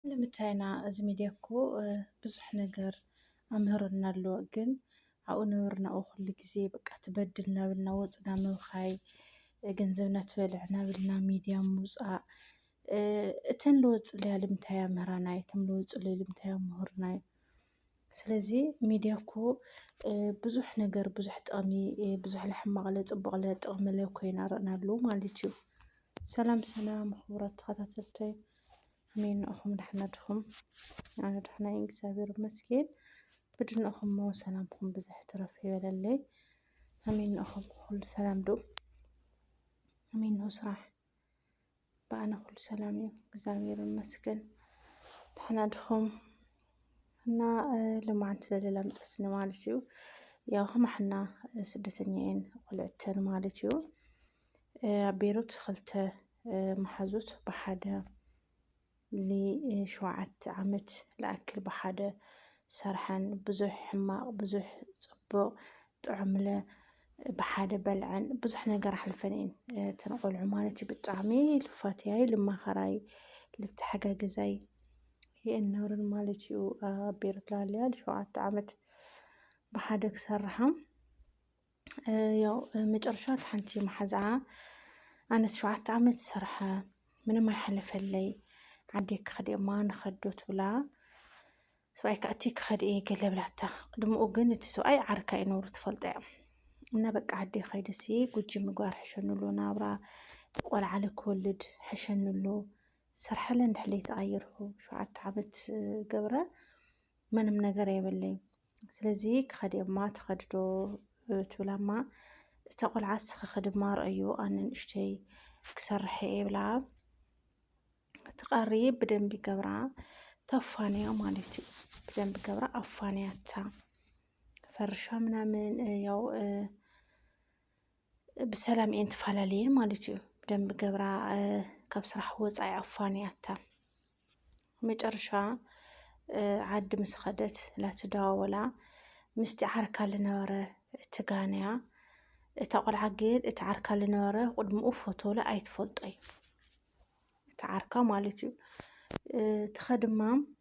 ንምታይ ኢና እዚ ሚድያ እኮ ብዙሕ ነገር ኣምህሩና ኣሎ ግን ኣብኡ ነበርና ኣብኡ ኩሉ ግዜ በቃ ትበድል ናብልና ወፅና ምብኻይ ገንዘብና ትበልዕ ናብልና ሚድያ ምውፃእ እተን ልወፅለያ ልምታይ ኣምህራና እቶም ልወፅለዩ ልምታይ ኣምህሩና ስለዚ ሚድያ እኮ ብዙሕ ነገር ብዙሕ ጥቕሚ ብዙሕ ለሕማቕ ለፅቡቕ ለጥቕሚ ለኮይና ረእናሉ ማለት እዩ ሰላም ሰላም ክቡራት ተኸታተልተይ ኣሜን ንእኹም ዳሕና ድኹም ኣነ ዳሕና እግዚኣብሔር ይመስገን ብድንእኹም ሞ ሰላምኩም ብዝሕ ትረፍ ይበለለይ ኣሜን ንእኹም ኩሉ ሰላም ዶ ኣሜን ነው ስራሕ በኣነ ኩሉ ሰላም እዩ እግዚኣብሔር ይመስገን ዳሕና ድኹም እና ልማዓንቲ ዘለላ ምፀስኒ ማለት እዩ ያው ከማሕና ስደተኛ እየን ቆልዕተን ማለት እዩ ኣብ ቤሩት ክልተ መሓዙት ብሓደ ንሸውዓተ ዓመት ዝኣክል ብሓደ ሰርሐን ብዙሕ ሕማቕ ብዙሕ ፅቡቕ ጥዑምለ ብሓደ በልዐን ብዙሕ ነገር ኣሕልፈን እየን እተን ቆልዑ ማለት እዩ። ብጣዕሚ ልፋትያይ ልማኸራይ ልተሓጋገዛይ የን ነብረን ማለት እዩ። ኣብ ቤሩት ላለያ ንሸውዓተ ዓመት ብሓደ ክሰርሓ ያው መጨረሻ እቲ ሓንቲ መሓዝኣ ኣነስ ሸውዓተ ዓመት ዝሰርሐ ምንም ኣይሓለፈለይ ዓዲ ክኸድ እማ ንኸዶ ትብላ ሰብኣይ ከኣቲ ክኸድ እየ ገለ ብላታ ቅድምኡ ግን እቲ ሰብኣይ ዓርካ እዩ ነብሩ ትፈልጦ እያ እና በቃ ዓዲ ኸይደሲ ጉጂ ምግባር ሕሸኑሉ ናብራ ቆልዓ ክወልድ ሕሸኑሉ ሰርሐለ እንድሕለይ ተቐይርኩ ሸውዓተ ዓመት ገብረ ምንም ነገር የብለይ ስለዚ ክኸድ እማ ትኸድዶ ትብላ እማ እታ ቆልዓ ስኽኽድ እማ ርእዩ ኣነ ንእሽተይ ክሰርሐ የብላ ትቐሪ ብደንቢ ገብራ ተፋንያ ማለት እዩ። ብደንቢ ገብራ ኣፋንያታ ፈርሻ ምናምን ያው ብሰላም እየን ተፈላለየን ማለት እዩ። ደንብ ገብራ ካብ ስራሕ ወፃኢ ኣፋንያታ መጨረሻ ዓዲ ምስ ኸደት ላትደዋወላ ምስቲ ዓርካ ልነበረ ትጋንያ እታ ቆልዓ ግን እቲ ዓርካ ልነበረ ቅድምኡ ፎቶለ ኣይትፈልጦይ እቲ ዓርካ ማለት እዩ። ትኸ ድማ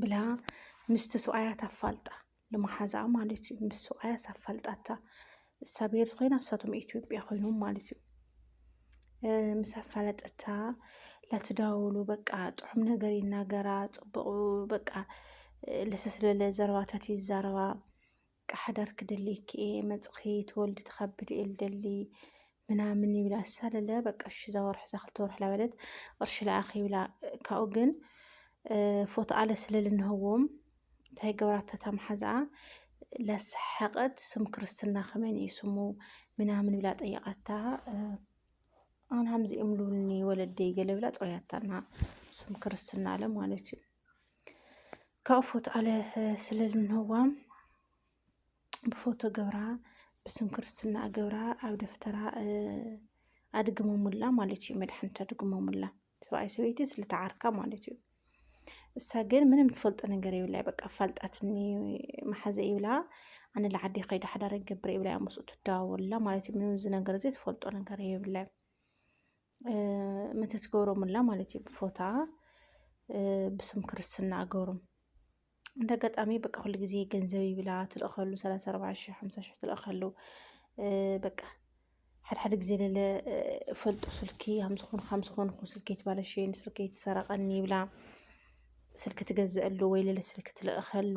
ብላ ምስቲ ሰብኣያት ኣፋልጣ ልመሓዛኣ ማለት እዩ ምስ ሰብኣያስ ኣፋልጣታ እሳ ቤር ኮይና እሳቶም ኢትዮጵያ ኮይኖም ማለት እዩ ምስ ኣፋለጠታ ላትዳውሉ በቃ ጥዑም ነገር ይናገራ ፅቡቅ በቃ ለሰስለለ ዘረባታት ይዛረባ በቃ ሓዳር ክደልየኪ እየ መፅኺ ትወልዲ ትኸብድ እየ ልደሊ ምናምን ይብላ ኣሳለለ በቃ እሺ እዛ ወርሒ እዛ ክልተ ወርሒ ላበለት ቅርሺ ለኣኺ ይብላ ካብኡ ግን ፎቶ ኣለ ስለ ልንህዎም እንታይ ገብራታ ታምሓዝኣ ላሰሓቀት ስም ክርስትና ከመን እዩ ስሙ ምናምን ብላ ጠየቃታ ኣን ሃምዚ እምሉኒ ወለደይ ገለ ብላ ፀውያታና ስም ክርስትና ኣለ ማለት እዩ ካብኡ ፎቶ ኣለ ስለልንህዋ ብፎቶ ገብራ ብስም ክርስትና ገብራ ኣብ ደፍተራ ኣድግመሙላ ማለት እዩ። መድሓኒት ኣድግመሙላ ሰብኣይ ሰበይቲ ስለተዓርካ ማለት እዩ። እሳ ግን ምንም ትፈልጦ ነገር ይብላ በቃ ፋልጣትኒ መሓዘ ይብላ ኣነ ለዓዲ ከይደ ሓዳረ ገብረ ይብላ ምስኡ ትደዋወላ ማለት እዩ። ምንም እዚ ነገር እዚ ትፈልጦ ነገር ይብላ ምእንቲ ትገብሮምላ ማለት እዩ ብፎታ ብስም ክርስትና ኣገብሮም እንደ ኣጋጣሚ በቃ ኩሉ ግዜ ገንዘብ ይብላ ትልእኸሉ ሰላሳ ኣርባዓ ሽሕ ሓምሳ ሽሕ ትልእኸሉ በቃ ሓድሓደ ግዜ ለለ ፈልጡ ስልኪ ሃምዝኾኑ ከምዝኾንኩ ስልኪ ትባለሸኒ ስልኪ ትሰረቐኒ ይብላ ስልኪ ትገዝአሉ ወይ ለለ ስልኪ ትልእኸሉ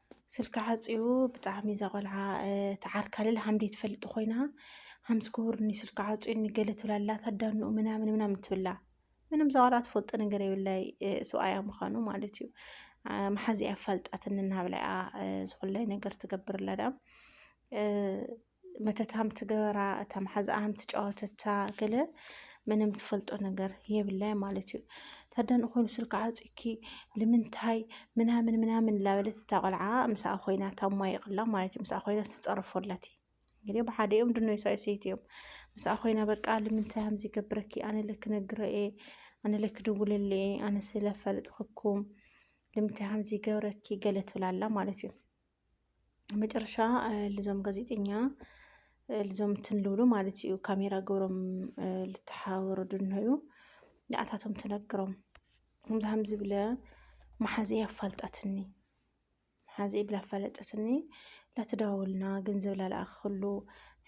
ስልካ ዓጽዩ ብጣዕሚ እዛ ቆልዓ ተዓርካልል ሃምዲ ትፈልጥ ኮይና ሃምስ ክቡርኒ ስልካ ዓጽዩኒ ገለ ትብላ ኣላ ታዳንኡ ምናምን ምናምን ትብላ ምንም እዛ ቆልዓ ትፈልጦ ነገር የብላይ ሰብኣያ ምዃኑ ማለት እዩ መሓዚኣ ኣፋልጣትኒ እናሃብላ እያ ዝኹላይ ነገር ትገብር ኣላ ደኣ መተታም ትገበራ እታ መሓዝኣም ትጫወተታ ገለ ምንም ትፈልጦ ነገር የብላይ ማለት እዩ ታዳን ኮይኑ ስልካ ዓፂኪ ልምንታይ ምናምን ምናምን ላበለት እታ ቆልዓ ምስኣ ኮይና ታማይቕላ ማለት እዩ ምስኣ ኮይና ትፀርፎላት እዩ እንግዲህ ብሓደ እዮም ድኖ ይሳይሰይት እዮም ምስኣ ኮይና በቃ ልምንታይ ከምዚ ገብረኪ ኣነ ለክ ነግረ እየ ኣነ ለክ ድውልለ እየ ኣነ ስለፈልጥክኩም ልምንታይ ከምዚ ገብረኪ ገለ ትብላላ ማለት እዩ መጨረሻ ልዞም ጋዜጠኛ ልዞም ትንልብሉ ማለት እዩ ካሜራ ገብሮም ልተሓባበሩ ድንሆዩ ንኣታቶም ትነግሮም ከምዚ ከም ዝብለ መሓዘ ኣፋልጣትኒ መሓዘ ብላ ኣፋለጠትኒ ላተደዋወልና ገንዘብ ላልኣኽክሉ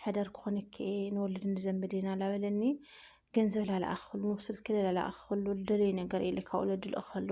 ሕደር ክኾነ ከ ንወልድ ንዘምድ ኢና ላበለኒ ገንዘብ ላልኣኽክሉ ስልኪ ላልኣኽክሉ ልደለዩ ነገር ኢለ ካብ ወለዲ ልእኸሉ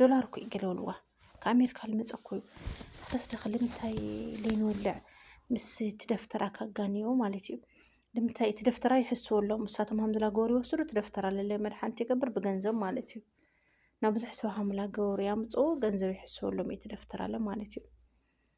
ዶላር እኮ እዩ ገለውልዋ ካብ ኣሜሪካ ልመፀ እኮ እዩ ኣሰስ ደኸ ልምንታይ ለይንወልዕ ምስ እቲ ደፍተራ ካጋንዮ ማለት እዩ ልምንታይ እቲ ደፍተራ ይሕስወሎም እሳቶም ሃምዝላ ገበሩ ይወስዱ እቲ ደፍተራ ለለ መድሓንቲ ይገብር ብገንዘብ ማለት እዩ ናብ ብዙሕ ሰብ ሃምላ ገበሩ ያምፅኡ ገንዘብ ይሕስወሎም እቲ ደፍተራ ለ ማለት እዩ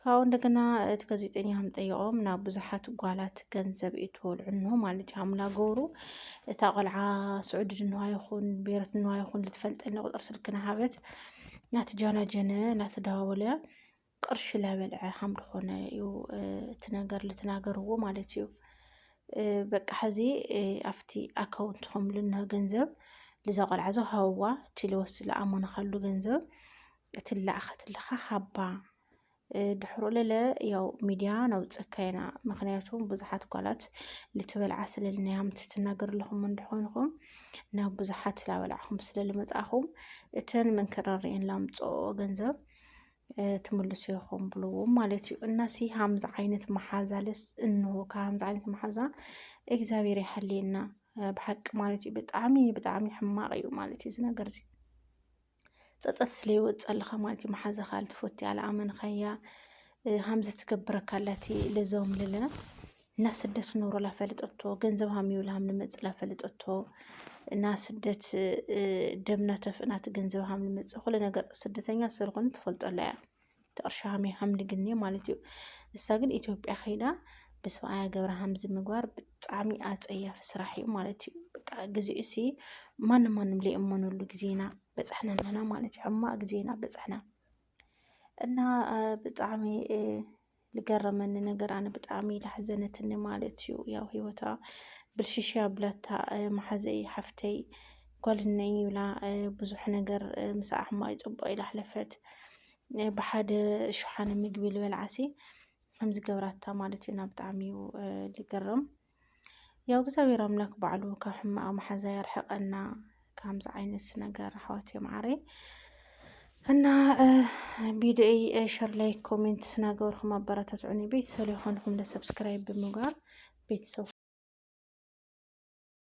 ካብኡ እንደገና እቲ ጋዜጠኛ ከም ጠይቖም ናብ ብዙሓት ጓላት ገንዘብ እትወልዑ እንሆ ማለት እዩ ሓሙላ ገብሩ እታ ቆልዓ ስዑዲ ድንዋ ይኹን ቤረት ድንዋ ይኹን ልትፈልጠኒ ቁፅር ስልኪ ናሃበት ናቲ ጃናጀነ ናቲ ዳዋወለ ቅርሺ ላበልዐ ሃም ድኾነ እዩ እቲ ነገር ልትናገርዎ ማለት እዩ በቃ ሕዚ ኣብቲ ኣካውንትኹም ልንሆ ገንዘብ ልዛ ቆልዓ ዞ ሃውዋ እቲ ልወስድ ልኣመኑ ካሉ ገንዘብ እቲ ላኣኸትልኻ ሃባ ድሕሮ ለለ ያው ሚድያ ነውፀካ ኢና ምክንያቱም ብዙሓት ጓላት ልትበልዓ ስለልናያም ትትናገር ኣለኹም እንድኾንኹም ናብ ብዙሓት ላበላዕኹም ስለልመፃኹም እተን መንከራሪአን ላምፅኦ ገንዘብ ትምልሱ ይኹም ብልዎ ማለት እዩ እናሲ ሃምዚ ዓይነት መሓዛ ለስ እንሆ ከሃምዚ ዓይነት መሓዛ እግዚኣብሔር ይሓልየና ብሓቂ ማለት እዩ ብጣዕሚ ብጣዕሚ ሕማቅ እዩ ማለት እዩ ዝነገር እዚ ጸጸት ስለ ይወጸልኻ ማለት እዩ መሓዛኻ ኣልትፎቲ ኣልኣመንኻያ ሃምዚ ትገብረካ ኣላቲ ለዘውም ልልና እና ስደት ኖሮ ላፈልጠቶ ገንዘብ ሃም ይብል ሃም ንመጽ ላፈልጠቶ እና ስደት ደምና ተፍእናት ገንዘብ ሃም ንመጽ ኩለ ነገር ስደተኛ ስርኹን ትፈልጦ ኣላ እያ እቲ ቅርሺ ሃምዩ ሃምሊ ግን እዩ ማለት እዩ እሳ ግን ኢትዮጵያ ከይዳ ብስብኣያ ገብረ ሃምዚ ምግባር ብጣዕሚ ኣፀያፊ ስራሕ እዩ ማለት እዩ በቃ ግዚኡ እሲ ማንም ማንም ለየእመነሉ ግዜና በፃሕና ኣለና ማለት እዩ ሕማቅ ግዜና በፃሕና እና ብጣዕሚ ዝገረመኒ ነገር ኣነ ብጣዕሚ ላሕዘነትኒ ማለት እዩ ያው ሂወታ ብልሽሽ ኣብላታ መሓዘይ ሓፍተይ ጓልነይ ይብላ ብዙሕ ነገር ምስ ኣሕማይ ፅቡቅ ኢላ ኣሕለፈት ብሓደ ሸሓነ ምግቢ ዝበልዓሲ ከምዚ ገብራታ ማለት እዩ እና ብጣዕሚ እዩ ዝገርም ያው እግዚኣብሔር ኣምላክ ባዕሉ ካብ ሕማቅ መሓዛ ያርሕቀና ከምዚ ዓይነት ነገር ኣሕዋት የምዓረይ እና ቢድኦይ ሸር ላይክ ኮሜንት ስናገበርኩም ኣበረታትዑኒ ቤተሰብ የኾንኩም ለሰብስክራይብ ብምግባር ቤተሰብ